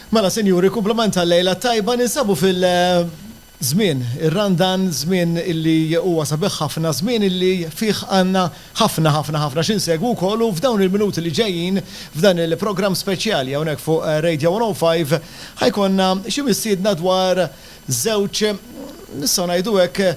Mela sinjuri, kumplament tal-lejla t-tajba, ninsabu fil, żmien, ir-Randan, żmien illi huwa sabiħ ħafna, żmien illi fih għandna ħafna, ħafna, ħafna xi nsegwu wkoll u f'dawn il-minuti li ġejjin, f'dan il-programm speċjali hawnhekk fuq Radio 105, ħa jkollna xi mistiedna dwar żewġ, nistgħu ngħidu hekk,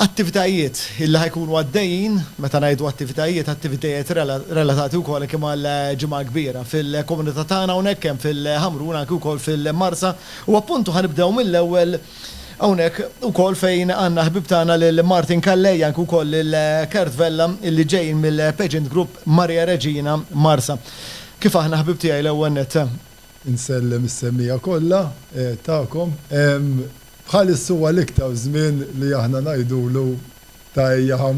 Attivitajiet illi ħa jkunu għaddejjin, meta ngħidu attivitajiet, attivitajiet relatati wkoll anki mal-Ġimgħa l-Kbira. Fil-komunità tagħna hawnhekk kemm fil-Ħamrun anki wkoll fil-Marsa u appuntu ħa nibdew mill-ewwel hawnhekk ukoll fejn għandna ħbieb tagħna lil Martin Callei anki wkoll lil Kurt Vella illi ġejjin mill-Pageant Group Maria Regina Marsa. Kif aħna ħbieb tiegħi l-ewwel nett. Insellem is-semmiegħa kollha tagħkom. Bħalissa huwa l-iktar żmien li aħna ngħidulu ta' ejja ħa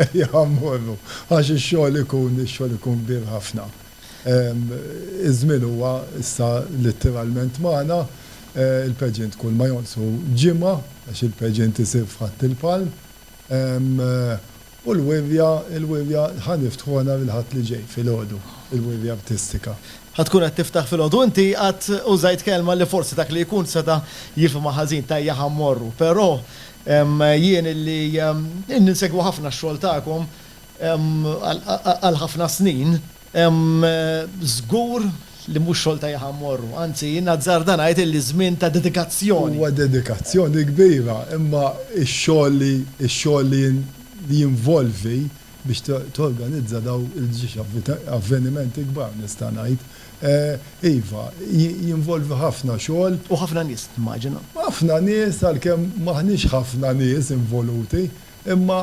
ejja ħa mmorru għax ix-xogħol ikun ix-xogħol ikun kbir ħafna. Iż-żmien huwa issa littiralment magħna. Il-pageant kull ma jonqsu ġimgħa għax il-pageant isir f'Ħadd il-Palm. U l-wirja, il-wirja, ħa niftħuha nhar il-Ħadd li ġej, filgħodu, il-wirja artistika. Ħa tkun qed tiftaħ filgħodu. Inti qatt użajt kelma li forsi dak li jkun seta' jifhimha ħażin, t'ajja ħa mmorru. Però jien li insegwu ħafna x-xogħol tagħkom għal ħafna snin, Hemm żgur li mhux xogħol ta' jħa mmorru, anzi jien nazzarda ngħid illi żmien ta' dedikazzjoni. Huwa dedikazzjoni kbira imma x-xogħol li x-xogħol li li jinvolvi biex torganizza dawn il-ġiex avvenimenti kbar nista' ngħid, iva, jinvolvi ħafna xogħol. U ħafna nies, nimmaġina. Ħafna nies għalkemm m'aħniex ħafna nies involuti. Imma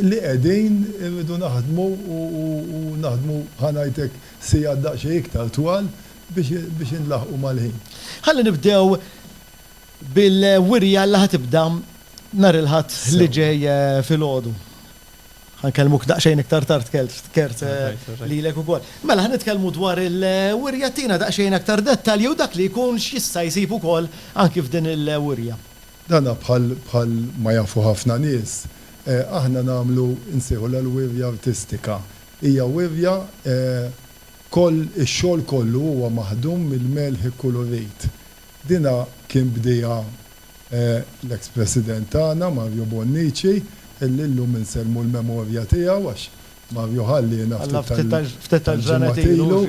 li qegħdin irridu naħdmu u naħdmu ħa ngħid hekk sigħat daqsxejn iktar twal biex inlaħħqu mal-ħin. Ħalli nibdew bil-wirja li ħa tibda nhar il-Ħadd li ġej filgħodu. Ħa nkellmuk daqsxejn iktar tard Kurt lilek ukoll. Mela ħa nitkellmu dwar il-wirja, ttina daqsxejn aktar dettalji u dak li jkun x'jista' jsib ukoll anki f'din il-wirja. Dan bħal bħal ma jafu ħafna nies, aħna nagħmlu nsejħulha l-wirja artistika. Hija wirja koll ix-xogħol kollu huwa maħdum mill-melħ ikkulurit. Dina kien bdieha l-eks President tagħna Mario Bonnici illi llum insellmu l-memorja tiegħu għax Mario ħalliena ftit tal-ġimgħat ilu.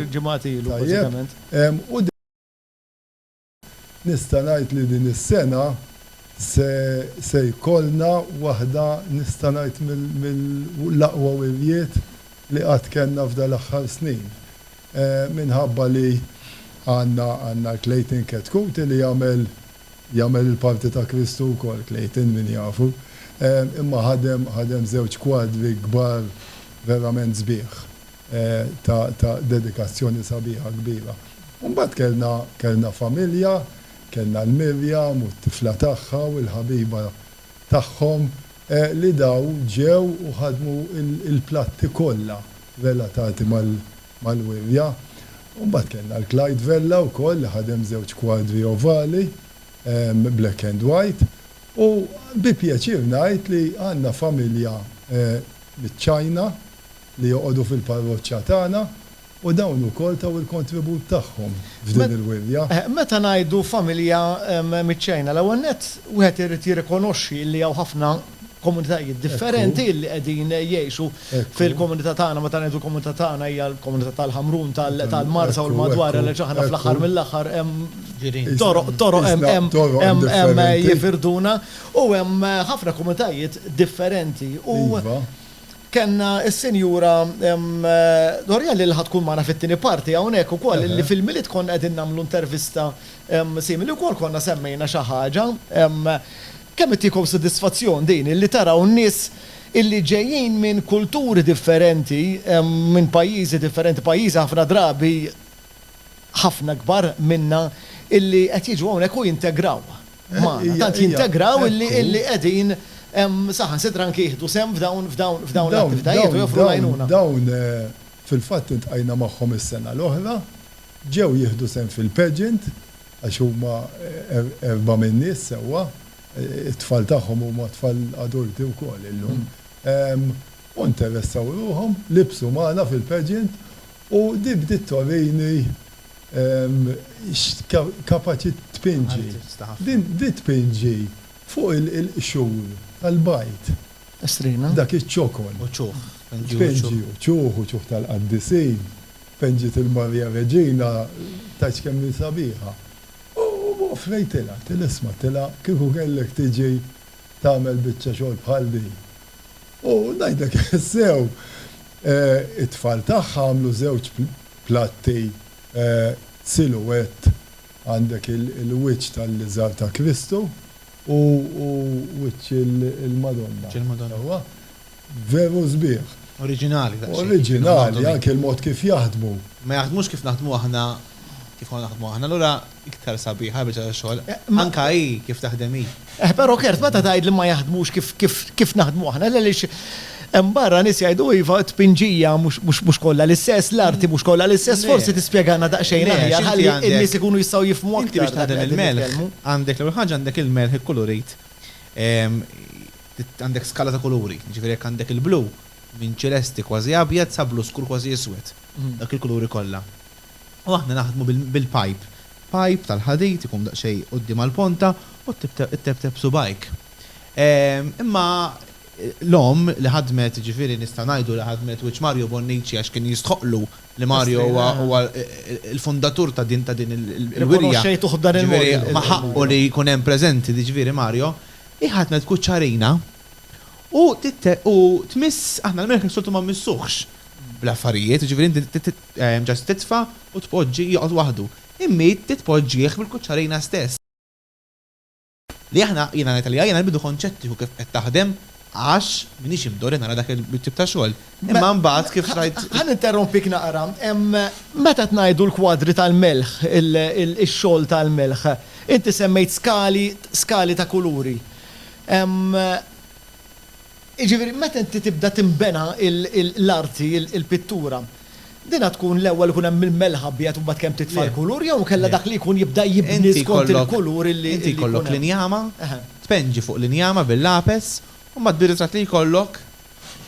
Tajjeb. Nista' ngħid li din is-sena se se jkollna waħda nista' ngħid mill mill-aqwa wirjiet li qatt kellna f'dal-aħħar snin. Minħabba li għandna għandna l-Clayton Chetcuti li jagħmel jagħmel il-parti ta' Kristu wkoll Clayton min jafu. Imma ħadem ħadem żewġ kwadri kbar verament sbieħ. ta' ta' dedikazzjoni sabiħa kbira. U mbagħad kellna kellna familja, kellna 'l Miriam u t-tifla tagħha u l-ħabiba tagħhom li daw ġew u ħadmu l-platti kollha relatati mal mal-wirja. U mbagħad kellna 'l Clyde Vella wkoll li ħadem żewġ kwadri ovali, black and white. U bi pjaċir ngħid li għandna familja miċ-China li joqogħdu fil-parroċċa tagħna u dawn ukoll taw il-kontribut tagħhom f'din il-wirja. Meta ngħidu familja miċ-Ċina, l-ewwel nett wieħed irid jirrikonoxxi li hawn ħafna komunitajiet differenti li qegħdin jgħixu fil-komunità tagħna. Meta ngħidu l-komunità tagħna hija l-komunità tal-Ħamrun, tal-Marsa u l-madwar għaliex aħna fl-aħħar mill-aħħar hemm toroq, toroq hemm jifirduna u hemm ħafna komunitajiet differenti. U Kellna s-Sinjura D'Orielli li ħa tkun magħna fit-tieni parti hawnhekk ukoll li fil-Milied konna qegħdin nagħmlu intervista simili wkoll konna semmejna xi ħaġa. Kemm qed tiekhom sodisfazzjon din illi taraw nies illi ġejjin minn kulturi differenti, minn pajjiżi differenti, pajjiżi ħafna drabi ħafna ikbar minna illi qed jiġu hawnhekk u jintegraw. magħna, tant jintegraw illi qegħdin saħansitra anke jieħdu sehem f'dawn l-attivitajiet u joffru l-għajnuna. Dawn fil-fatt iltqajna magħhom is-sena l-oħra, ġew jieħdu sehem fil-pageant għax huma erbgħa min-nies sewwa, it-tfal tagħhom huma tfal adulti wkoll illum, u interessaw ruħhom, libsu magħna fil-pageant u din bdiet torini Kapaċi tpinġi. Din tpinġi fuq il-qxur tal-bajt. Estrina. Dak iċ-ċokon. U ċuħ. Tpinġi u ċuħ, u ċuħ tal-qaddisin. Penġiet il-Marija Reġina, tgħidx kemm hi sabiħa. U offrejtilha, għidtilha isma' għidtilha kieku kellek tiġi tagħmel biċċa xogħol bħal din. U ngħidlek sew, it-tfal tagħha għamlu żewġ platti silhouette, għandek il-wiċċ tal-liżar ta' Kristu u wiċċ il-Madonna. Wiċċ il-Madonna. Sewwa? Veru sbieħ. Oriġinali daqsxejn. Oriġinali, anke l-mod kif jaħdmu. Ma jaħdmux kif naħdmu aħna, kif konna naħdmu aħna. Allura. Iktar sabiħa l-biċċa tax-xogħol. Anke hi kif taħdem hi. Eh, però Kurt, meta tgħid li ma jaħdmux kif kif kif naħdmu aħna, le għaliex hemm barra nies jgħidu iva t-tpinġija mhux mhux mhux kollha l-istess, l-arti mhux kollha l-istess, Le. forsi tispjegana daqsxejn Le, għax aħjar inti ħalli għandek- n-nies ikunu jistgħu jifhmu Inti aktar biex dak li taħdem qegħdin il-melħ, nitkellmu. għandek l-ewwel ħaġa għandek il-melħ ikkulurit, ehm, trid għandek skala ta' kuluri, jiġifieri jekk għandek il-blu, minn ċilesti kważi abjad sa blu skur kważi iswed, dawk il-kuluri kollha. u aħna naħdmu bil-pajp. Pajp tal-ħadid ikun daqsxejn quddiem għall-ponta u tteptep subgħajk. Imma l-omm li ħadmet, jiġifieri nista' ngħidu li ħadmet wiċċ Mario Bonnici għax kien jistħoqqlu li Mario huwa l-fundatur ta' din il-wirja. Rikonoxxejtuh b'dan il-mod. Jiġifieri ma ħaqqu li jkun hemm preżenti, jiġifieri Mario. Hi ħadmet kuċċarina u tmiss, aħna l-merħ is-soltu ma mmissuhx bl-affarijiet, jiġifieri inti Ġast titfa' u tpoġġi joqgħod waħdu. Immit titpoġġih bil-kuċċarina stess. Li aħna, jiena ngħid għalija, jiena l-bidu kont xettiku kif qed taħdem għax m'iniex imdorri nara dak it-tip ta' xogħol. Imma mbagħad kif rajt. Ħa ninterrompik naqra. Meta qed ngħidu l-kwadri tal-melħ, ix-xogħol tal-melħ, inti semmejt skali, skali ta' kuluri. Jiġifieri meta inti tibda tinbena l-arti, il-pittura, din għad tkun l-ewwel ikun hemm il-melħ abjad u mbagħad kemm titfa' l-kulur jew inkella dak li jkun jibda jibni skont il-kulur li jkun hemm? Inti jkollok l-injama, tpenġi fuq l-injama bil-lapes u mbagħad bir-ritratt li jkollok,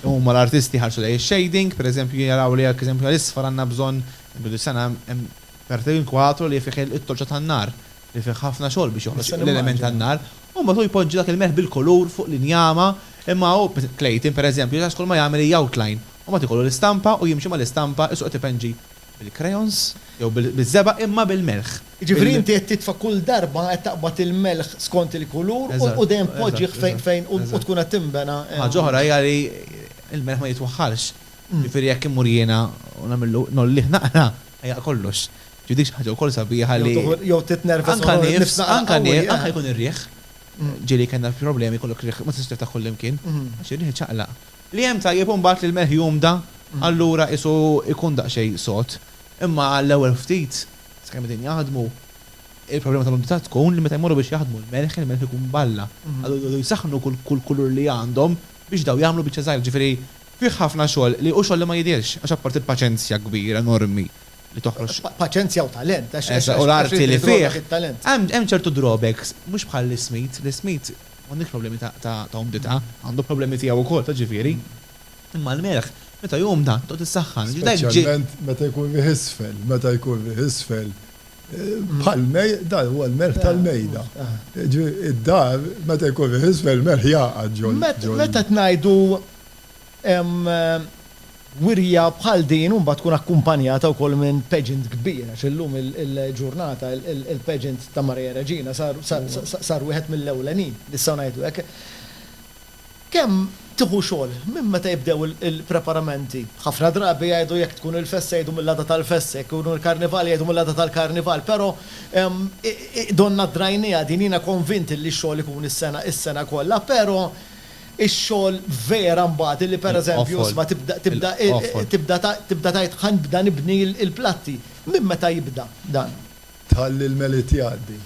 huma l-artisti jħarsu lejn ix-shading, pereżempju jaraw li pereżempju għal isfar għandna bżonn, din is-sena hemm Perte in Quattro li fih it-torċa tan-nar. li fih ħafna xogħol biex joħroġ l-element tan-nar, u mbagħad hu jpoġġi dak il-melħ bil-kulur fuq l-injama, imma hu, Clayton, pereżempju, ġas kull ma jagħmel hi outline, u mbagħad ikollu l-istampa u jimxi mal-istampa isu qed ipenġi bil-crayons jew biż-żebgħa imma bil-melħ. Jiġifieri inti qed titfa' kull darba qed taqbad il-melħ skont il-kulur u dejjem tpoġġih fejn u tkun qed tinbena. Ħaġa oħra hija li l-melħ ma jitwaħħalx, jiġifieri jekk immur jiena u nagħmillu ngħollih naqra, Jaqqa' kollox. Ġifieri dik xi ħaġa wkoll sabiħa li. Jew titnervas u noqgħod nifs naqra qawwi. Anke nifs, anke jkun ir-riħ. Ġieli kellna problemi, jkollok ir-riħ, ma tistax tiftaħ kullimkien għax ir-riħ iċaqlaq. Li hemm tajjeb imbagħad li l-melħ jumda, allura qisu jkun daqsxejn sod. Imma għall-ewwel ftit, sakemm qegħdin jaħdmu, il-problema tal-umdità tkun li meta jmorru biex jaħdmu l-melħ, il-melħ ikun balla. Allura jridu jsaħħnu kull kulur li għandhom biex dawn jagħmlu biċċa żgħira. Ġifieri Fih ħafna xogħol li hu xogħol li ma jidhirx, għax apparti l-paċenzja kbira, enormi li toħroġ. Paċenzja u talent, għax għax għax. U l-arti li fih, hemm hemm ċertu drawbacks, mhux bħal Lee Smith, Lee Smith m'għandux problemi ta' ta' ta' umdità, għandu problemi tiegħu wkoll ta' ġifieri, imma l-merħ meta jumda tqgħod issaħħan. Speċjalment meta jkun riħ isfel, meta jkun riħ isfel bħal mej dan huwa l-merħ tal-mejda. Ġifieri d-dar meta jkun riħ isfel il-merħ jgħaqad ġol ġol. Meta qed ngħidu Wirja bħal din imbagħad tkun akkumpanjata wkoll minn pageant kbir għax illum il-ġurnata il-pageant ta' Maria Reġina sar wieħed mill-ewlenin, nistgħu ngħidu hekk. Kemm tieħu xogħol minn meta jibdew il-preparamenti? Ħafna drabi jgħidu jekk tkun il-festa jgħidu mill-għada tal-festa, jekk ikun il-karnival jgħidu mill-għada tal-karnival, però donnha drajnieha din jiena konvint li x-xogħol ikun is-sena kollha, però Ix-xogħol vera mbagħad illi pereżempju isma' tibda tibda tibda tibda tgħid ħa nibda nibni l-platti. Minn meta jibda dan? Tħalli l-Milied jgħaddi.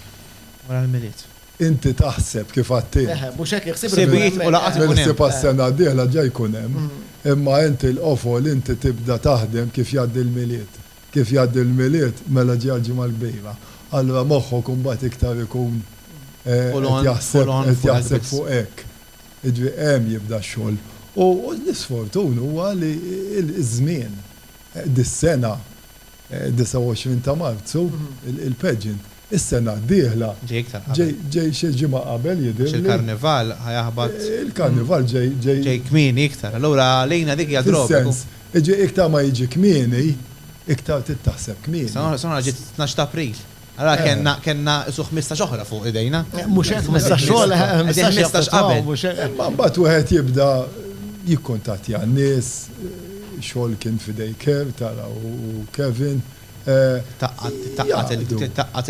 Wara l-Milied. Inti taħseb kif għedt int. Eħe, mhux hekk iħsieb irid ikun hemm. Ħsibijiet u laqgħat ikun hemm. Mill-ħsieb għas-sena d-dieħla ġa jkun hemm. Imma inti l-qofol inti tibda taħdem kif jgħaddi l-Milied. Kif jgħaddi l-Milied, mela ġejja l-Ġimgħa l-Kbira, allura moħħok imbagħad iktar ikun qed jaħseb qed jaħseb fuq hekk. Jiġifieri hemm jibda x-xogħol. U l-isfortun huwa li ż-żmien, dis-sena, 29 ta' Marzu, il-pageant, Is-sena d-dieħla. Ġej iktar qabel. Ġej xi ġimgħa qabel jidhirli. Għax il-Karnival ħa jaħbat. Il-Karnival ġej, ġej. Ġej kmieni iktar. Allura għalina dik hija droga. Fis-sens, jiġi iktar ma jiġi kmieni, iktar trid taħseb kmieni. Sena l-oħra ġiet it-tnax ta' April. Allura kellna, kellna isu ħmistax oħra fuq idejna. Mhux hekk, ħmistax xogħol, ħmistax ħmistax qabel. Mhux hekk. Imma mbagħad wieħed jibda jikkuntattja n-nies, xogħol kien f'idej Kerr, tara, u Kevin. Tgħaqqad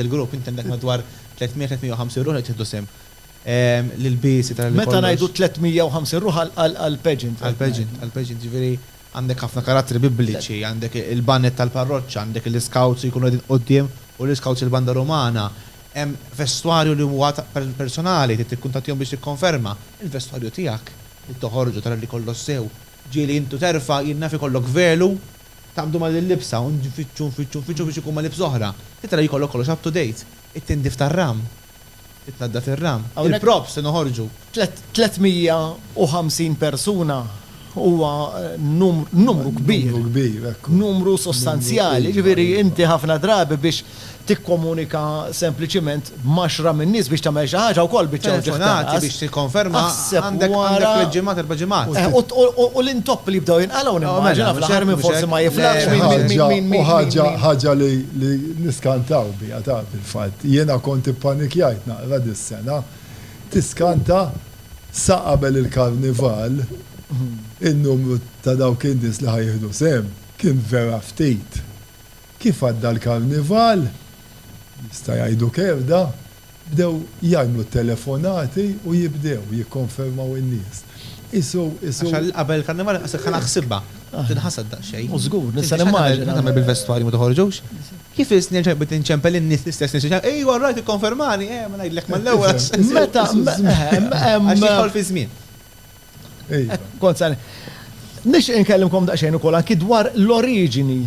il-grupp, inti għandek madwar 300-350 ruħ li qed jieħdu sehem. L-ilbiesi ta' li kollox. Meta ngħidu 350 ruħ għall-pageant. Għall-pageant, għall-pageant. Jiġifieri għandek ħafna karattri bibliċi, għandek il-baned tal-parroċċa, għandek l-iscouts li jkunu qegħdin quddiem u l-iscouts il-banda rumana. Hemm vestwarju li huwa personali, trid tikkuntattjahom biex tikkonferma. Il-vestwarju tiegħek, trid toħorġu tara li kollox sew. Ġieli intu terfa' jien naf ikollok velu. Taqbdu mal-libsa u nfittxu, nfittxu, nfittxu biex ikun ma' libsa oħra. Titra li jkollok kollox up to date. It-tindif tar-ram. Titnaddaf ir-ram. Il-props li noħorġu. 350 persuna huwa numru kbir. Numru kbir, ekku. Numru sostanzjali. Jiġifieri inti ħafna drabi biex tikkomunika sempliċiment m'għaxra minn nies biex tagħmel xi ħaġa wkoll biċċa wġigħ ta' ras. Telefonati biex tikkonferma għandek tliet ġimgħat, erba' ġimgħat. U l-intoppi li jibdew jinqalgħu nimmaġina fl-aħħar min forsi ma jiflaħx min min min min min. Ħaġa ħaġa li li niskantaw biha taf fil-fatt. Jiena kont ippanikjajt naqra dis-sena. Tiskanta sa qabel il-Karnival in-numru ta' dawk in-nies li ħa jieħdu sehem kien vera ftit. Kif għadda l-Karnival, jista' jgħidu kerda, bdew jgħajnu t-telefonati u jibdew jikkonfermaw in-nies. Qisu, qisu. Għax qabel il-Karnival inqas li kellha ħsibha, tinħasad daqsxejn. U żgur, nista' nimmaġina. X'qed tagħmel bil-vestwarji ma toħorġux? Kif isni għal ġenb bdiet inċempel in-nies, l-istess nies li ċemplet, Ejwa, all right, ikkonfermani, eh, ma ngħidlek mal-ewwel għax. Meta, eħe, hemm. Għax jidħol fiż-żmien. Iva. Kont sa Nix inkellimkom daqsxejn ukoll anki dwar l-oriġini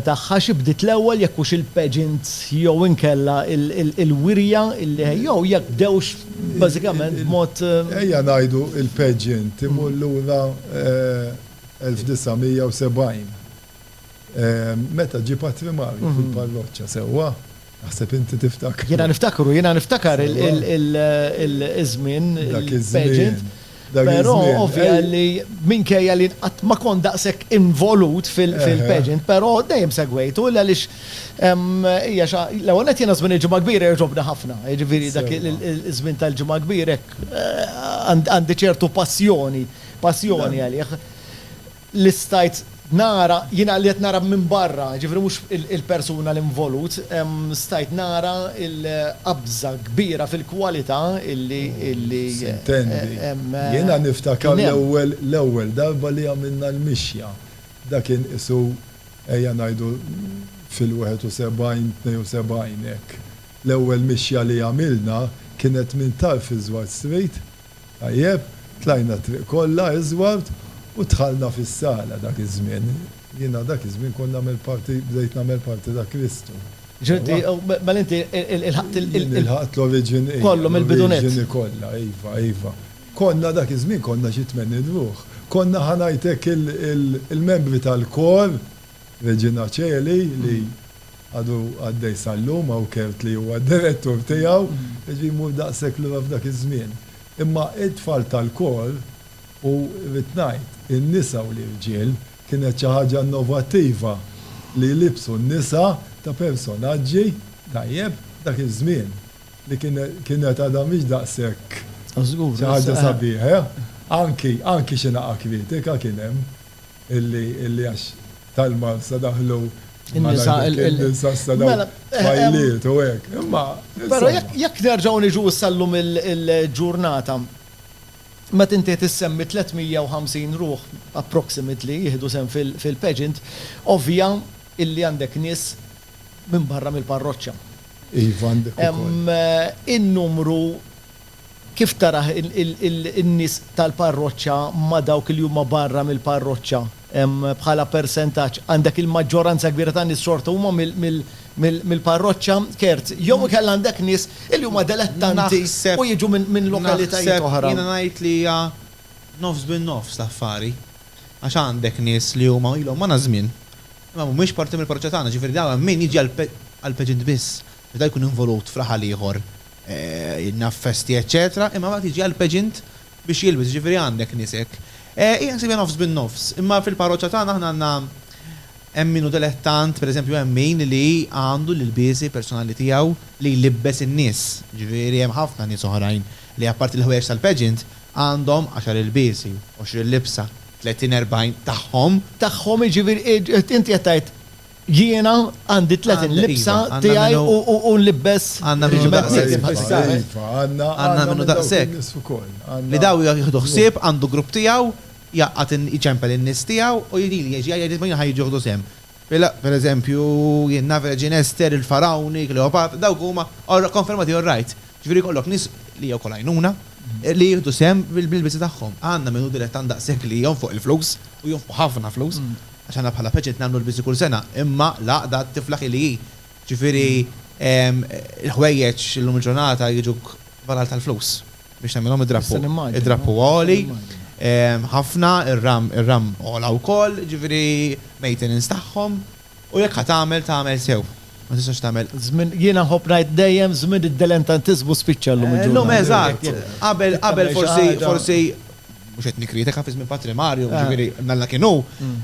tagħha xi bdiet l-ewwel jekk hux il-pageant jew inkella il-wirja illi jew jekk bdewx bażikament b'mod. Ejja ngħidu il-pageant imur lura 1970. Meta ġie patrimarju fil-parroċċa sewwa. Naħseb inti tiftakru. Jiena niftakru, jiena niftakar il-żmien, il-pageant. Però ovvja li minkejja li qatt ma kont daqshekk involut fil-pageant, però dejjem segwejtu għaliex hija xi l-ewwel nett jiena żmien il-Ġimgħa Kbira jogħġobni ħafna. Jiġifieri dak iż-żmien tal-Ġimgħa Kbira hekk għandi ċertu passjoni, passjoni għalih. li stajt nara, jiena li qed nara minn barra, jiġifieri mhux il-persuna l-involut, stajt nara l-qabża kbira fil-kwalità li kien hemm. Sintendi, jiena niftakar l-ewwel l-ewwel darba li għamilna l-mixja, dak kien qisu ejja ngħidu fil-71, 72 hekk. L-ewwel mixja li għamilna kienet minn tarf iż-Żward Street, Tajjeb, tlajna t-triq kollha iżward u dħalna fis-sala dak iż-żmien. Jiena dak iż-żmien kont nagħmel parti, bdejt nagħmel parti ta' Kristu. Ġifieri inti, mela inti ilħaqt il-. Jien ilħaqt l-oriġini, iva. Kollu mill-bidu nett. L-oriġini kollha, iva, iva. Konna dak iż-żmien konna xi tmenin ruħ. Konna ħa ngħidlek il-membri tal-kor, Reġina Coeli, li. għadu għaddej sal-lum, hawn Kurt li huwa d-direttur tiegħu, jiġifieri jmur daqshekk lura f'dak iż-żmien. Imma t-tfal tal-kor u rrid ngħid, in-nisa u l-irġiel, kienet xi ħaġa innovattiva li jlibbsu n-nisa ta' personaġġi, tajjeb, dak iż-żmien, li kien kienet għadha mhix daqshekk xi ħaġa sabiħa. Anki xi naqa' kritika kien hemm. Illi għax tal-Malz sa daħlu In-nisa, il-. In-nisa sa daħlu. Mela, eh, eh, Fajliet u hekk. Imma. Però jekk nerġgħu niġu issa llum il-ġurnata, meta inti qed issemmi 350 ruħ approximately jieħdu sehem fil-pageant, ovvja illi għandek nies minn barra mill-parroċċa. Iva, għandek ukoll. Eh, in-numru Kif tarah in-nies tal-parroċċa ma' dawk li huma barra mill-parroċċa? Bħala persentaġġ, għandek il-maġġoranza kbira tan-nies xorta huma mill-parroċċa? Kerz, Jew inkella għandek nies li huma delettanti u jiġu minn lokalitajiet oħra? Naħseb, jiena ngħid li hija nofs bin nofs l-affari. Għax għandek nies li huma ilhom magħna żmien, imma mhumiex parti mill-parroċċa tagħna, ġifieri dawn hemm min jiġi għall-pageant biss. Meta jkun involut f'raħal ieħor, naf festi eċċetera, imma mbagħad jiġi għall-pageant biex jilbes, jiġifieri għandek nies hekk. Hi ħsibha nofs bin-nofs, imma fil-parroċċa tagħna aħna għandna hemm min hu dilettant, pereżempju hemm min li għandu l-ilbiesi personali tiegħu li jlibbes in-nies, jiġifieri hemm ħafna nies oħrajn li apparti l-ħwejjeġ tal-pageant għandhom għaxar ilbiesi, għoxrin libsa, tletin erbgħin tagħhom. Tagħhom jiġifieri inti qed tgħid Jiena għandi tletin libsa tiegħi u nlibbes ħġiebat tiegħi. Għandna minnu daqshekk. Li daw jieħdu ħsieb, għandu grupp tiegħu, jgħaqqad in, iċempel in-nies tiegħu u jgħidili jgħid, jgħid li min ħa jiġu jieħdu sehem. Per eżempju, jien naf Reġina Ester, il-Farawni, Kleopatra, dawk huma konfermati all right. Ġifieri jkollok nies, li hija wkoll għajnuna, li jieħdu sehem bil-libsi tagħhom. Għandna min hu dilettant daqshekk li jonfoq il-flus u jonfoq ħafna flus. Għax aħna bħala peċent nagħmlu l-biżi kull sena, imma l-għaqda tiflaħ hi li hi. Ġifieri, il-ħwejjeġ illum il-ġurnata jiġuk valal tal-flus biex tagħmilhom id-drappu. Id-drappu huwa għoli ħafna, ir-ram għola wkoll, ġifieri maintenance tagħhom u jekk ħa tagħmel, tagħmel sew. Ma tistax tagħmel. Żmien, jiena nħobb ngħid dejjem, żmien id-delentantiżmu spiċċa llum il-ġurnata. Llum, eżatt. Qabel forsi, forsi mhux qed nikkritika fi żmien Patri Mario, jiġifieri Mella kien hu,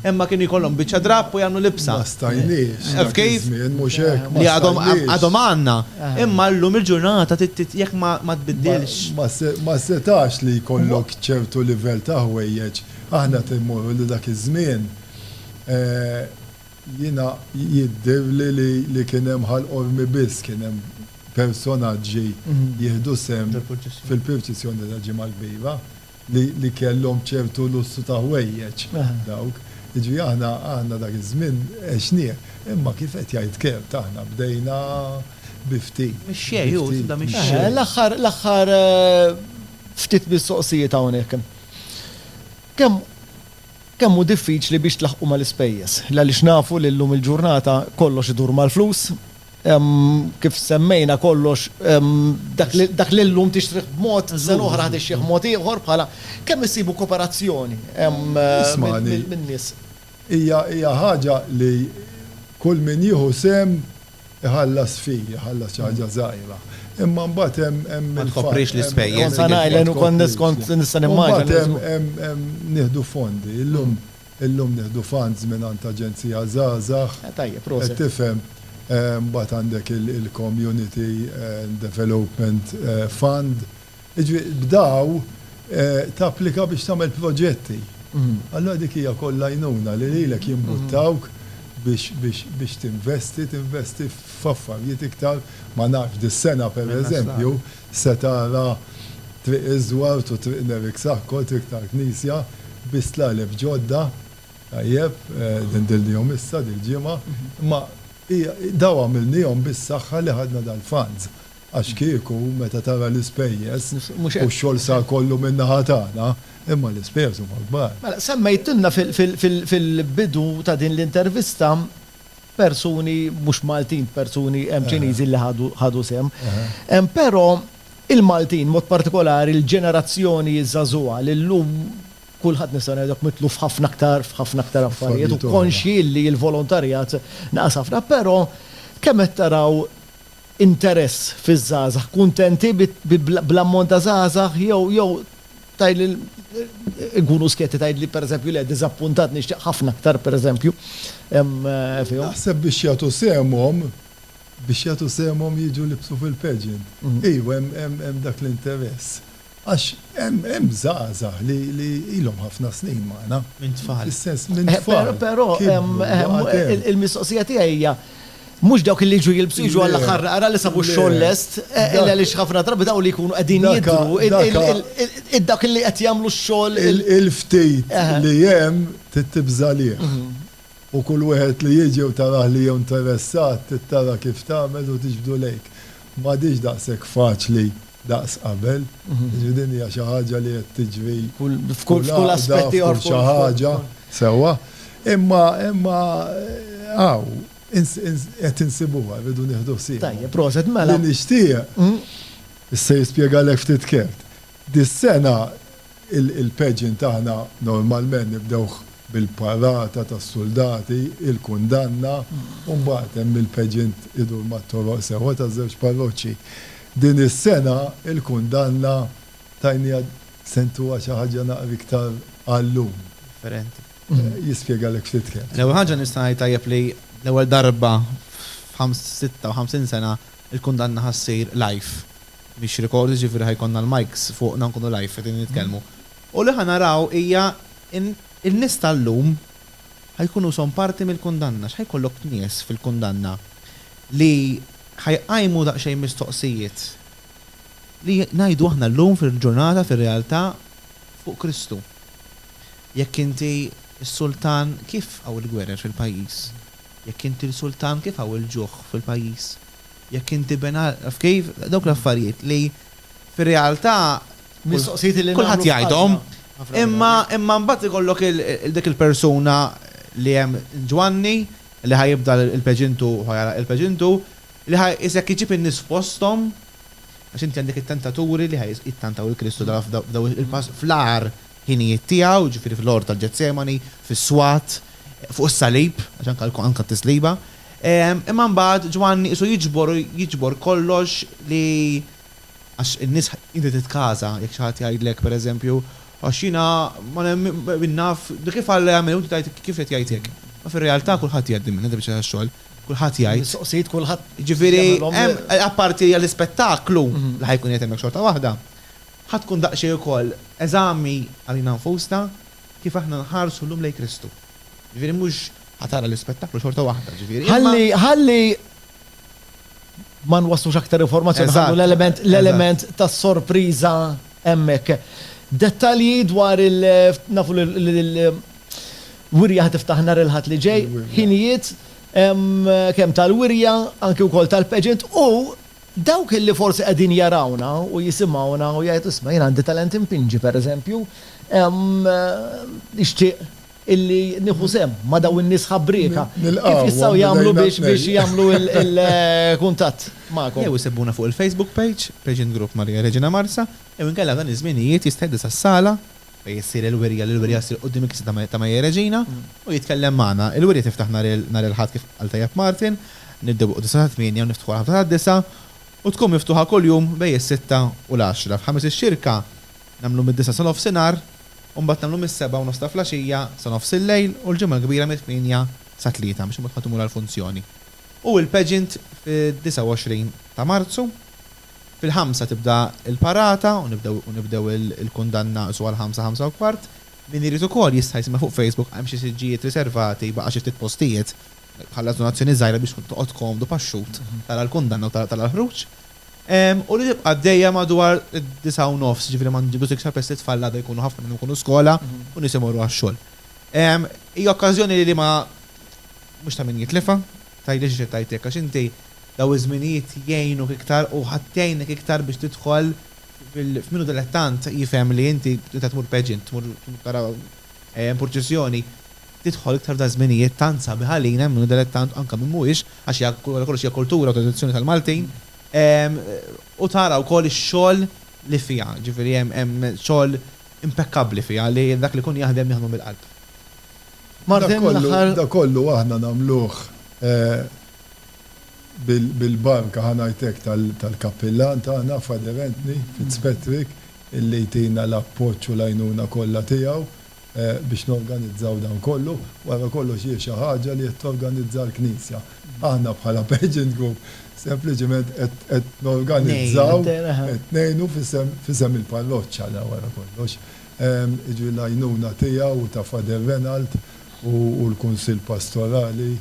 imma kienu jkollhom biċċa drapp u jagħmlu libsa. Ma stajniex. Taf kif? Li għadhom għandna. Imma llum il-ġurnata jekk ma tbiddilx. Ma setax li jkollok ċertu livell ta' ħwejjeġ. Aħna qed immorru lil dak iż-żmien Jiena jidhirli li kien hemm Ħal Qormi biss kien hemm personaġġi jieħdu sehem fil-pirċissjoni tal-Ġimgħa l-Kbira li kellhom ċertu lussu ta' ħwejjeġ dawk. Jiġifieri aħna dak iż-żmien għexnieh. Imma kif qed jgħid Kurt aħna bdejna bi ftit. Mixxej hu, tibda mixxej. L-aħħar, l-aħħar ftit mistoqsijiet hawnhekk. Kemm. Kemm hu diffiċli biex tlaħħqu mal-ispejjeż, għaliex nafu li llum il-ġurnata kollox idur mal-flus. Kif semmejna kollox, dak li llum tixtrih b'mod, sena oħra ħa tixtrih mod ieħor bħala. Kemm issibu koperazzjoni minn nies? Hija ħaġa li kull min jieħu sehem iħallas fee, iħallas xi ħaġa żgħira. Imma mbagħad hemm il-fatt. Ma tkoprix l-ispejjeż. Kont sa ngħidlek u kont nista' nimmaġina. Mbagħad hemm nieħdu fondi. Illum nieħdu funds mingħand Aġenzija Żgħażagħ. Tajjeb, proset. Qed tifhem? Mbagħad għandek il-Community Development Fund Jiġifieri b'daw tapplika biex tagħmel proġetti. Allura dik hija wkoll l-għajnuna li lilek jimbuttawk biex tinvesti, tinvesti f'affarijiet iktar, ma nafx, dis-sena pereżempju se tara Triq iż-Żwart u Triq Nerik Saħkor, Triq tal-Knisja, bi stlaleb ġodda, tajjeb, li ndilnihom issa dil-ġimgħa, imma daw għamilnihom bis-saħħa li ħadna dal-funds. Għax kieku, meta tara l-ispejjeż, u x-xogħol sar kollu min-naħa tagħna, imma l-ispejjeż huma kbar. Mela, semmejtilna fil-bidu ta' din l-intervista persuni mhux Maltin, persuni Ċiniżi li ħadu sehem. Però il-Maltin, b'mod partikolari l-ġenerazzjoni żagħżugħa li llum kulħadd nista' ngħidlek mitluf ħafna aktar f'ħafna aktar affarijiet u konxji li l-volontarjat naqas ħafna. Però kemm qed taraw interess fiż-żgħażagħ, kuntenti bl-ammont ta' żgħażagħ jew jew tgħidli inkunu skjetti tgħidli pereżempju le diżappuntat nixtieq ħafna aktar pereżempju fihom. Naħseb biex jagħtu sehemhom biex jagħtu sehemhom jiġu libsu fil-pageant. Iva hemm hemm dak l-interess. Għax hemm żgħażagħ li ilhom ħafna snin magħna. Minn tfal. Fis-sens, minn tfal. Però il-mistoqsija tiegħi hija, mhux dawk li jiġu jilbsu jiġu għall-aħħar naqra li sabu x-xogħol lest, għaliex ħafna drabi dawn li jkunu qegħdin jidhru, dawk li qed jagħmlu x-xogħol. Il-ftit li hemm trid tibża' għalih. U kull wieħed li jiġi u tarah li hu interessat, trid tara kif tagħmel u tiġbdu lejk. M'għadhiex daqshekk faċli daqs qabel. Jiġifieri din hija xi ħaġa li qed tiġri f'kull għaqda, f'kull xi ħaġa. Sewwa. Imma, imma hawn qed insibuha, rridu nieħdu ħsiebha. Tajjeb, proset, mela. Li nixtieq, issa jispjegalek ftit kert. Dis-sena Il-pageant aħna normalment nibdewh bil-parata tas-suldati, il-kundanna u mbagħad hemm il-pageant idur mat-toroq sewwa taż-żewġ parroċċi. Din is-sena l-kundanna tajniha se ntuha xi ħaġa naqra iktar għal-lum. Differenti. Jispjegalek ftit kemm. L-ewwel ħaġa nista' ngħid tajjeb li l-ewwel darba f'56 sena l-kundanna ħa ssir live. Mhix record jiġifieri ħa jkollna l-mikes fuqna nkunu live qegħdin nitkellmu. U li ħa naraw hija in in-nies ta' llum ħa jkunu ishom parti mill-kundanna. X'ħa jkollok nies fil-kundanna li ħa jqajmu daqsxejn mistoqsijiet li ngħidu aħna llum fil-ġurnata fir-realtà fuq Kristu. Jekk inti s-sultan kif hawn il-gwerer fil-pajjiż? Jekk inti l-sultan kif hawn il-ġuħ fil-pajjiż? Jekk inti ben għal kif, dawk l-affarijiet li fir-realtà kulħadd jgħidhom, imma imma mbagħad ikollok dik il-persuna li hemm Ġwanni li ħa jibda l-peġintu ħa jagħlaq il-peġintu li ħa jqisek iġib in-nies fosthom għax inti għandek it-tentaturi li ħa jittantaw lil Kristu f'daw il-pass fl-agħar ħinijiet tiegħu, jiġifieri fl-għorn tal-Ġetsemani, fis-swat, fuq is-salib, għax anke anke t-tisliba. Imma mbagħad Ġwanni qisu jiġbor u jiġbor kollox li għax in-nies inti titkaża jekk xi ħadd jgħidlek pereżempju għax jiena ma nemminx naf kif Alla jagħmel u inti tgħid kif qed jgħid hekk. Ma fir-realtà kulħadd jgħid din din biċċa tax-xogħol. Kulħadd jgħid. Mistoqsijiet kulħadd jagħmilhom. Jiġifieri apparti għall-ispettaklu li ħa jkun qiegħed hemmhekk xorta waħda, ħa tkun daqsxejn ukoll eżami għalina nfusna kif aħna nħarsu llum lejn Kristu. Jiġifieri mhux Ħa tara l-ispettaklu xorta waħda, ġifieri. Ħalli, ħalli ma nwaslux aktar informazzjoni ħallu l-element l-element tas-sorpriża hemmhekk. Dettalji dwar il nafu l-wirja ħad tiftaħ nhar il-Ħadd li ġej, ħinijiet kemm tal-wirja anke wkoll tal-pageant u dawk li forsi qegħdin jarawna u jisimgħuna u jgħidu isma' jien għandi talent inpinġi pereżempju, nixtieq illi nieħu sehem ma' dawn in-nies ħabbrieka, kif jistgħu jagħmlu biex biex jagħmlu l-kuntatt magħkom? Jew isibbuna fuq il-Facebook page, Patient Group Maria Reġina Marsa, jew inkella f'dan iż-żminijiet jisteddu sas-sala fejn issir il-wirja li l-wirja ssir quddiem il-Knisja ta' Maria Reġina u jitkellem magħna. Il-wirja tiftaħ nhar il nhar il-Ħadd kif qal tajjeb Martin, nibdew bil-Quddiesa sat-tmienja u niftħu għall-ħabta tad-disgħa u tkun miftuħa kuljum bejn is-sitta u l-għaxra. F'ħamis ix-xirka, Nagħmlu mid-disgħa sa nofsinhar u mbagħad nagħmlu mis-sebgħa u nofs ta' flaxija sa nofs il-lejl u l-Ġimgħa l-Kbira mit-tmienja sa tlieta biex imbagħad ħadd imur għall-funzjoni. U il-pageant fid-29 ta' Marzu. Fil-ħamsa tibda l-parata u nibdew u nibdew il-kundanna su għall-ħamsa, ħamsa u kwart. Min irid ukoll jista' jsimgħa fuq Facebook hemm xi siġġijiet riservati baqa' xi ftit postijiet. Ħallas donazzjoni żgħira biex toqgħod komdu paxxut tara l-kundanna u tara l-ħruġ. u li tibqa' għaddejja madwar id-disgħa u nofs, jiġifieri ma nġibux iktar peress li t-tfal l-għada jkunu ħafna minnhom ikunu skola u nies imorru għax-xogħol. Hija okkażjoni li ma mhux ta' min jitlifha. Tgħidli għaliex qed ngħid hekk, għax inti dawn iż-żminijiet jgħinuk iktar u ħadd jgħinek iktar biex tidħol f'min hu dilettant jifhem li inti tmur pageant, tmur tara purċissjoni, tidħol iktar f'da' żminijiet tant sabiħ għalina, minn minnu delettant u anke minn mhuwiex, għax hija wara kollox hija kultura u tradizzjoni tal-Maltin, u tara wkoll ix-xogħol li fiha, jiġifieri hemm xogħol impekkabbli fiha li dak li jkun jaħdem jaħdmu mill-qalb. Martin, l-aħħar. Dak kollu aħna nagħmluh bil-barka, ħa ngħid hekk, tal-Kappillan tagħna, Father Anthony Fitzpatrick, illi jtina l-appoġġ u l-għajnuna kollha tiegħu. biex norganizzaw dan kollu. Wara kollox hi xi ħaġa li qed torganizza l-Knisja. Aħna bħala Pageant Group sempliċiment qed norganizzaw, qed ngħinu f'isem il-parroċċa la wara kollox. Jiġifieri l-għajnuna tiegħu u ta' Father Renald u l-Kunsill Pastorali.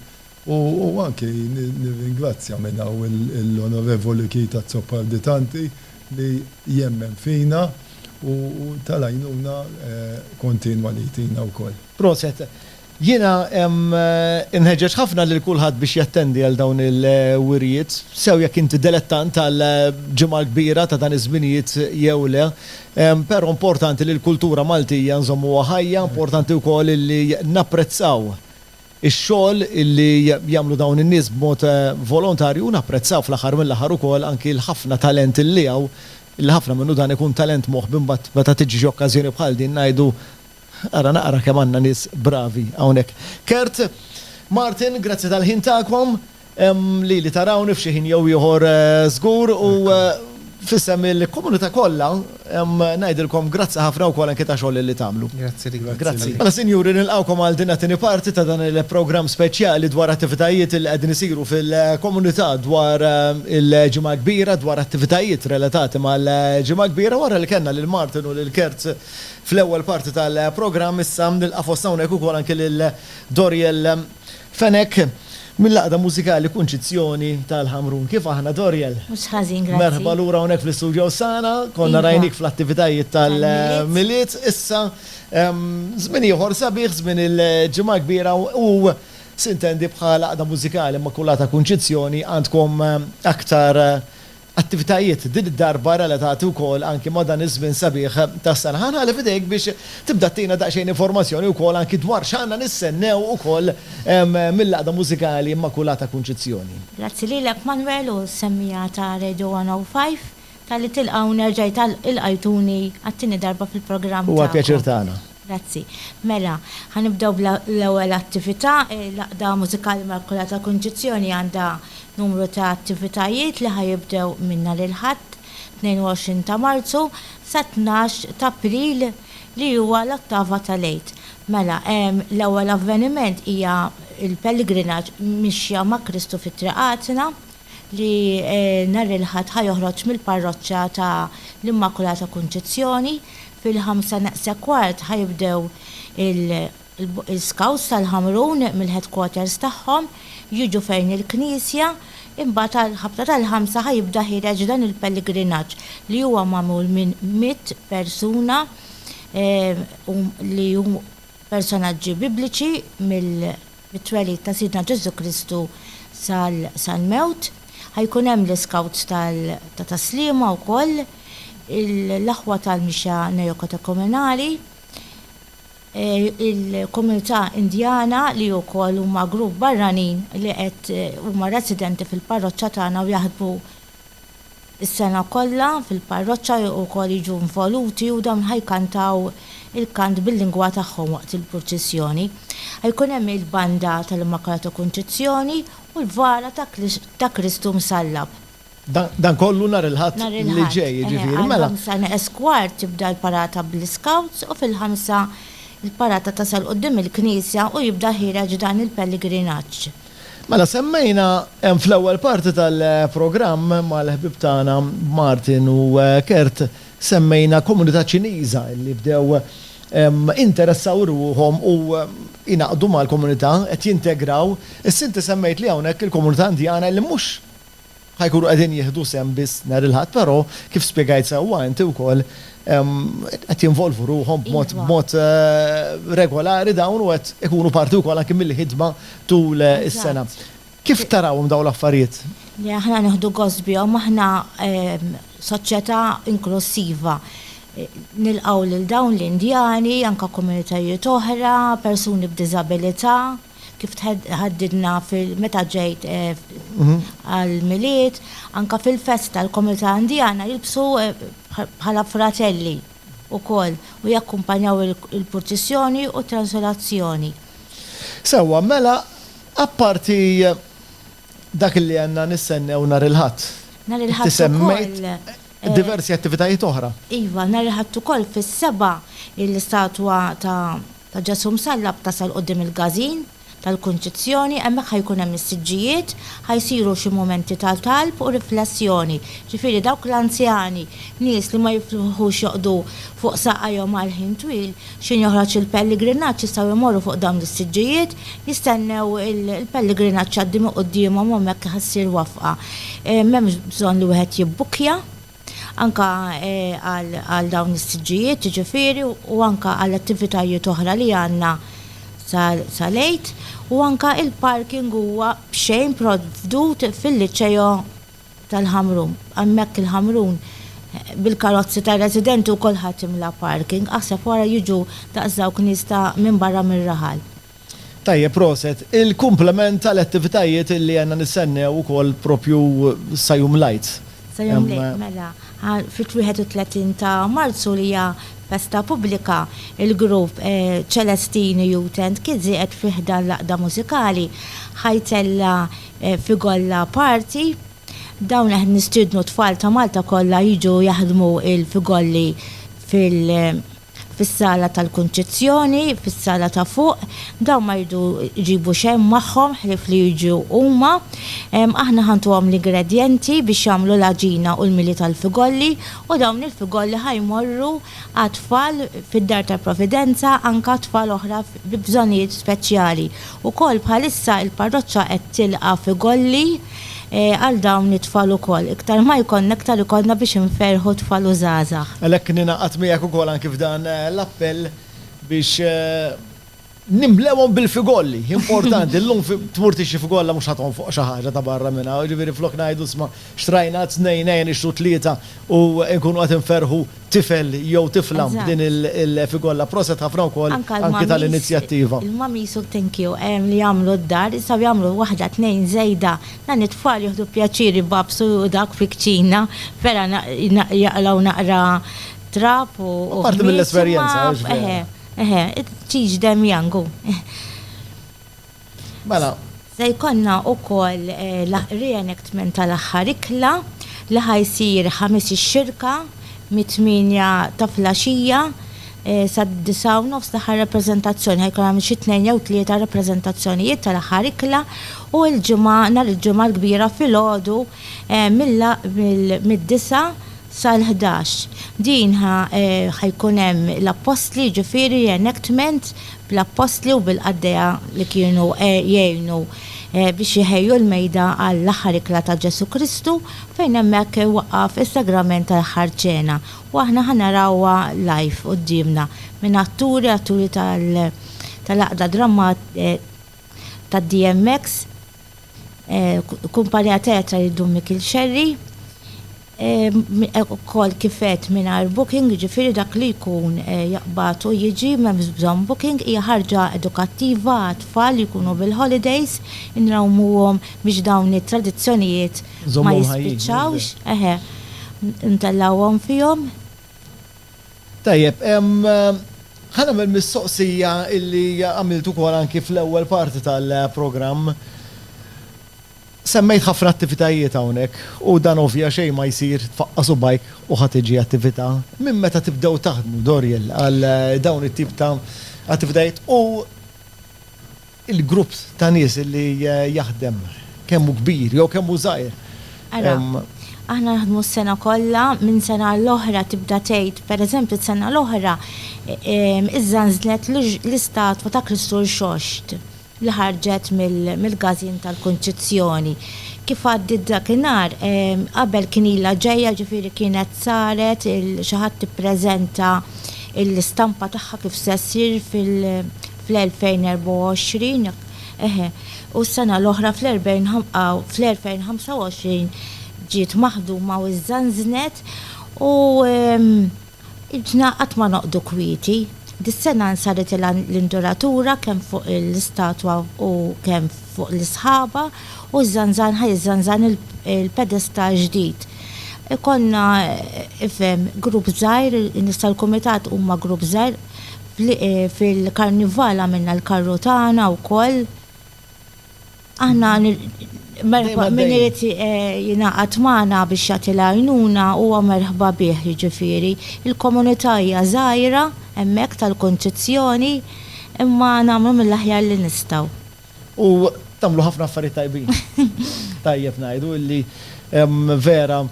U anki nirringrazzja minn hawn l-Onorevoli Keith Azzopardi Tanti li jemmen fina u tal-għajnuna kontinwa li jtina wkoll. Proset. Jiena inħeġġeġ ħafna lil kulħadd biex jattendi għal dawn il-wirjiet, sew jekk inti delettant tal-Ġimgħa l-Kbira ta' dan iż-żminijiet jew le. Però importanti li l-kultura Maltija nżommuha ħajja, importanti wkoll illi napprezzaw ix-xogħol li jagħmlu dawn in-nies b'mod volontarju u napprezzaw fl-aħħar mill-aħħar ukoll anki l-ħafna talent li hawn, li ħafna minnu dan ikun talent moħbi mbagħad meta tiġi xi okkażjoni bħal din ngħidu ara naqra kemm għandna nies bravi hawnhekk. Kurt, Martin, grazzi tal-ħin tagħkom. Lili tarawni f'xi ħin jew ieħor żgur u f'isem il-komunità kollha ngħidilkom grazzi ħafna wkoll anke ta' xogħol li tagħmlu. Grazzi lilek. Grazzi. Mela sinjuri nilqgħukom għal din it-tieni parti ta' dan il-programm speċjali dwar attivitajiet li qegħdin isiru fil-komunità dwar il-Ġimgħa Kbira, dwar attivitajiet relatati mal-Ġimgħa Kbira. Wara li kellna lil Martin u lil Kurt fl-ewwel parti tal-programm, issa nilqa' fostna hawnhekk ukoll anke lil Doriel, Fenech, mill-għaqda mużikali Kunċizzjoni tal-Ħamrun. Kif aħna, Doriel? Mhux ħażin, grazzi. Merħba lura hawnhekk fl-istudio Osana. Konna rajnik fl-attivitajiet tal-Milied. Issa, żmien ieħor sabiħ, żmien il-Ġimgħa l-Kbira u, sintendi, bħal għaqda mużikali Immakulata Kunċizzjoni għandkom aktar attivitajiet din id-darba relatati wkoll anki ma' dan iż-żmien sabiħ tas-sena. Ħa nħalli f'idejk biex tibda ttina daqsxejn informazzjoni wkoll anki dwar x'għandna nistennew ukoll mill-Għaqda Mużikali Immakulata Kunċizzjoni. Grazzi lilek Manwel u s-semmiegħa ta' Radio 105 talli tilqgħu nerġa' ilqajtuni għat-tieni darba fil-programm tagħkom. Huwa l-pjaċir tagħna. Grazzi. Mela, ħa nibdew bl-ewwel attività. L-Għaqda Mużikali Immakulata Kunċizzjoni għandha numru ta' attivitajiet li ħa jibdew minn nhar il-Ħadd, 22 ta' Marzu, sat-tnax t'April li huwa l-Ottava tal-Għid. Mela, l-ewwel avveniment hija l-pellegrinaġġ Mixja ma' Kristu fi Triqatna li nhar il-Ħadd ħa joħroġ mill-Parroċċa ta' l-Immakulata Kunċizzjoni Fil-ħamsa naqsa kwart ħa jibdew il-Scouts tal-Ħamrun mill-headquarters tagħhom jiġu fejn il-knisja, imbagħad għall-ħabta tal-ħamsa ħa jibda ħiereġ dan il-pellegrinaġġ li huwa magħmul minn mitt persuna li hu personaġġi bibliċi mill mit-twelid ta' Sidna Ġesù Kristu sal-mewt. Ħa jkun hemm l-iskawts ta' tas-sliema wkoll, l-aħwa tal-mixja neokatekumenali, il-komunità Indjana li wkoll huma grupp barranin li qed huma residenti fil-parroċċa tagħna u jaħdmu Is-sena kollha fil-parroċċa wkoll jiġu involuti u dawn ħa jkantaw il-kant bil-lingwa tagħhom waqt il-purċissjoni. Ħa jkun hemm il-banda tal-Immakolata Kunċizzjoni u l-vara ta' Kristu Msallab. Dan kollu nhar il-Ħadd li ġej jiġifieri, mela. Nhar il-Ħadd, eħe, għal ħamsa kwart tibda l-parata bl-iskawts u fil-ħamsa l-parata tasal quddiem il-knisja u jibda ħiereġ dan il-pelligrinaġġ. Mela semmejna fl-ewwel parti tal-programm mal-ħbieb tagħna Martin u Kurt semmejna komunità Ċiniża li bdew jinteressaw ruħhom u jingħaqdu mal-komunità, qed jintegraw. Issa inti semmejt li hawnhekk il-komunità Indjana li mhux ħa jkunu qegħdin jieħdu sehem biss nhar il-Ħadd, però kif spjegajt sewwa inti wkoll, qed jinvolvu ruħhom b'mod b'mod regolari dawn u qed ikunu parti wkoll anki mill-ħidma tul is-sena. Kif tarawhom dawn l-affarijiet? Le aħna nieħdu gost bihom, aħna soċjetà inklussiva. Nilqgħu lil dawn l-Indjani, anke komunitajiet oħra, persuni b'diżabilità. kif tħaddidna meta ġejt għall-Milied, anke fil-festa tal-komunità Indjana jilbsu bħala fratelli wkoll u jakkumpanjaw il-purċissjoni u t-transolazzjoni. Sewwa, mela apparti dak li għandna nistennew nhar il-Ħadd. Nhar il-Ħadd ukoll. Inti semmejt diversi attivitajiet oħra. Iva, nhar il-Ħadd ukoll fis-sebgħa l-istatwa ta' Ta' Ġesù Msallab tasal quddiem il-każin tal-Kunċizzjoni, hemmhekk ħa jkun hemm is-siġġijiet, ħa jsiru xi mumenti ta' talb u riflessjoni, ġifieri dawk l-anzjani, nies li ma jiflħux joqgħdu fuq saqajhom għal ħin twil, x'ħin joħroġ il-pelligrinaġġ jistgħu jmorru fuq dawn is-siġġijiet, jistennew il-pelligrinaġġ jgħaddi minn quddiemhom u hemmhekk ħa ssir wafqa, m'hemmx bżonn li wieħed jibbukkja. anke għal dawn is-siġġijiet jiġifieri u anke għal attivitajiet oħra li għandna sal-Għid u anke l-parking huwa b'xejn provdut fil-Liceo tal-Ħamrun. Hemmhekk il-Ħamrun bil-karozzi tar-residenti u kulħadd imla parking, aħseb wara jiġu daqs dawk nies ta' minn barra mir-raħal. Tajjeb proset. Il kumplament tal attivitajiet illi għandna nistennew ukoll propju sa jum l-Għid. Sa jum l-Għid mela. Fit 31 ta' Marzu li hija festa pubblika il grupp Celestine Youth and Kids qiegħed fi ħdan l-Għaqda Mużikali ħa jtella' fi Golla Party. Dawn qed nistiednu t-tfal ta' Malta kollha jiġu jaħdmu il fi Golli fil. fis-sala tal-kunċizzjoni, fis-sala ta' fuq, dawn ma jridu jġibu xejn magħhom ħlief li jiġu huma. Aħna ħa ntuhom l-ingredjenti biex jagħmlu l-għaġina u l-mili tal-figolli, u dawn il-figolli ħa jmorru għat-tfal fid-Dar tal-Providenza, anke għat-tfal oħra bi bżonnijiet speċjali. Ukoll bħalissa il-parroċċa qed tilqa' figolli, għal dawn it-tfal ukoll. Iktar ma jkollna, iktar ikollna biex inferrħu t-tfal u żgħażagħ. Għalhekk ningħaqad miegħek ukoll anki f'dan l-appell biex nimlewhom bil-figolli. Importanti, llum tmur tixtri figolla mhux ħa tonfoq xi ħaġa ta' barra minn hawn, jiġifieri flok ngħidu 'sma' xtrajna tnejn ejja nixtru tlieta u nkunu qed inferrħu tifel jew tifla b'din il-figolla proset ħafna wkoll anki tal-inizjattiva. Il-mamis u thankyou li jagħmlu d-dar issa jagħmlu waħda tnejn żejda dan it-tfal jieħdu pjaċir ibabsu u dak fi kċina vera jaqlaw naqra trab u Apparti mill-esperjenza. Eħe eħe teach them young hu. Mela, Se jkollna wkoll l-reenactment tal-aħħar ikla li ħa jsir Ħamis ix-Xirka mit-tmienja ta' flaxija sad-disgħa u nofs l-aħħar rappreżentazzjoni. Ħa jkun hemm xi tnejn jew tlieta rappreżentazzjonijiet tal-aħħar ikla u l-Ġimgħa nhar il-Ġimgħa l-kbira filgħodu mid-disgħa sal-ħdax. Din ħa jkun hemm l-Appostli jiġifieri reenactment bl-appostli u bil-qaddejja li kienu jgħinu biex iħejju l-mejda għall-Aħħar Ikla ta' Ġesù Kristu, fejn hemmhekk iwaqqaf is-Sagrament tal-Aħħar Ċena, u aħna ħa narawha live quddiemna minn atturi, atturi tal-Għaqda tad-DMX, Kumpanija Teatra jiddu Mikiel Scerri. Hekk ukoll kif għedt mingħajr booking, jiġifieri dak li jkun jaqbad u jiġi m'hemmx bżonn booking, hija ħarġa edukattiva għat-tfal li jkunu bil-holidays, inrawmuhom biex dawn it-tradizzjonijiet ma jispiċċawx, eħe, ntellgħuhom fihom. Tajjeb, ħa nagħmel mistoqsija li għamilt ukoll anki fl-ewwel parti tal-programm. Semmejt ħafna attivitajiet hawnhekk u dan ovvja xejn ma jsir tfaqqa' subgħajk u ħa tiġi attività. Minn meta tibdew taħdmu, Doriel, għal dawn it-tip ta' attivitajiet u l-grupp ta' nies li jaħdem kemm hu kbir jew kemm hu żgħir? Ara, aħna naħdmu s-sena kollha, minn sena għal oħra tibda tgħid, per eżempju s-sena l-oħra Iżda nżlet l-istatwa ta' Kristu Rxoxt. li ħarġet mill-gażin tal-Kunċizzjoni. Kif għaddiet dakinhar, qabel kien ilha ġejja, ġifieri kienet saret xi ħadd ippreżenta l-istampa tagħha kif se ssir fl-2024, eħe, u s-sena l-oħra fl-2025 ġiet maħduma u żżanżnet u, Idna qatt ma noqgħdu kwieti. Dis-sena nsaritilha l-induratura kemm fuq l-istatwa u kemm fuq l-isħaba u ż-żanżan ħa jiżżanżan il-pedestall ġdid. Ikollna, ifhem, grupp żgħir, in-nies tal-kumitat huma grupp żgħir. Fil-Karnival għamilna l-karru tagħna wkoll. Aħna merħba minn irid eh, jingħaqad magħna biex jagħti l-għajnuna huwa merħba bih jiġifieri. Il-komunità hija żgħira hemmhekk tal-Kunċizzjoni imma nagħmlu mill-aħjar li nistgħu. U tagħmlu ħafna affarijiet tajbin. Tajjeb ngħidu illi vera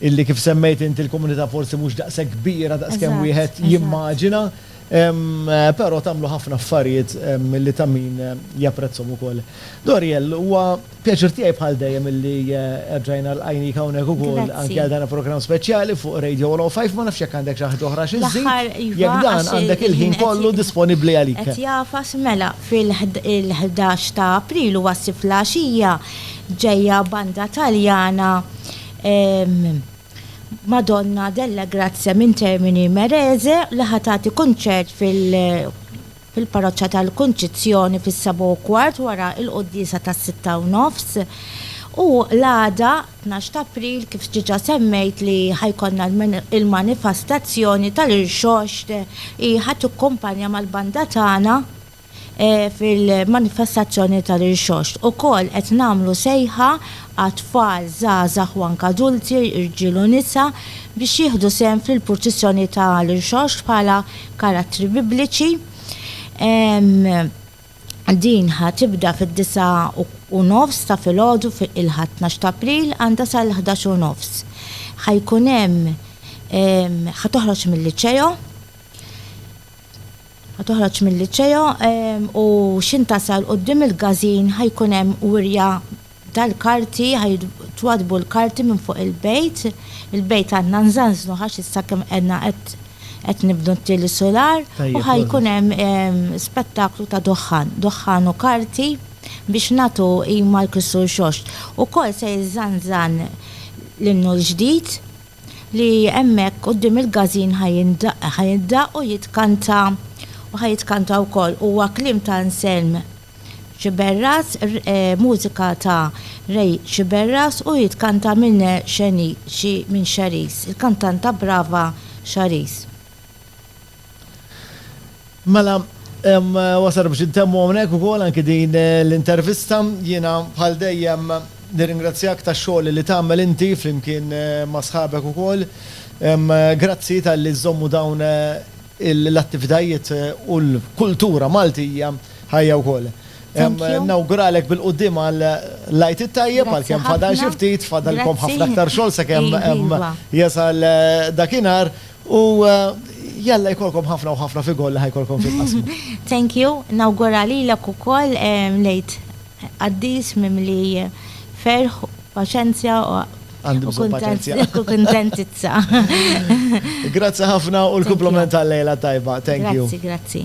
illi kif semmejt inti l-komunità forsi mhux daqshekk kbira daqskemm wieħed jimmaġina. Pero tagħmlu ħafna affarijiet li ta' min japprezzhom ukoll. Doriel, huwa pjaċir tiegħi bħal dejjem illi erġajna lqajnik hawnhekk ukoll anke għal dan il-programm speċjali fuq Radio 105. Ma nafx jekk għandek xi ħaġa oħra xi żżid. L-aħħar iva. Jekk dan għandek il-ħin kollu disponibbli għalik. Qed jagħfas mela fil-11 ta' April huwa s-sibt fl-għaxija ġejja banda Taljana Madonna della Grazia minn Termini Imerese li ħa tagħti kunċert fil-Parroċċa tal-Kunċizzjoni fis-sebgħa u kwart wara l-quddiesa tas-sitta u nofs. U l-għada, tnax t'April, kif diġà semmejt li ħa jkollna l-manifastazzjoni tal-irxoxt hi ħa tikkumpanja mal-banda tagħna, fil-manifestazzjoni tal-Irxoxt. Ukoll qed nagħmlu sejħa għat-tfal, żgħażagħ u anke adulti, irġiel u nisa, biex jieħdu sehem fil-purċissjoni ta' l-Irxoxt bħala karattri Bibliċi. Din ħa tibda fid-disgħa u nofs ta' filgħodu il-Ħadd tnax t'April għandha sal-ħdax u nofs. Ħa jkun hemm ħa toħroġ mil-Liceo. Ħa toħroġ mil-Liceo u x'ħin tasal quddiem il-gazin ħa jkun hemm wirja tal-karti, ħa jitwaddbu l-karti minn fuq il-bejt. Il-bejt għandna nżanżnu għax issa kemm qegħdna qed nibnu t-tieni sular u ħa jkun hemm spettaklu ta' duħħan, duħħan u karti biex nagħtu qima għall-Kristu Rxoxt. Ukoll se jiżżanżan l-innu l-ġdid li hemmhekk quddiem il-każin ħa jindaqq, ħa jindaqq u jitkanta u ħa jitkanta wkoll. Huwa kliem ta' Anselm Sciberras, mużika ta' Ray Sciberras u jitkanta minn Xeni, xi, minn Xeris, il-kantanta brava Xaris. Mela, wasar biex intemmu hawnhekk ukoll anki din eh, l-intervista. Jiena bħal dejjem nirringrazzjak tax-xogħol li tagħmel inti flimkien eh, ma' sħabek ukoll. Grazzi tal-li żommu dawn eh, l-attivitajiet u l-kultura Maltija ħajja wkoll. Nawguralek bil-qoddim għal lajt it-tajjeb għal kemm fadal xi ftit, fadalkom ħafna aktar xogħol sakemm iva. jasal dakinhar U jalla jkollkom ħafna u ħafna figol li ħajkolkom fil-qasma. Thank you, nawgura lilek ukoll lejt qaddis mimli ferħ, paċenzja u Għandu bżonn paċenzja. U kuntentizza. Grazzi ħafna u l-kumpliment tal-lejla tajba. Thank you. Grazzi, grazzi.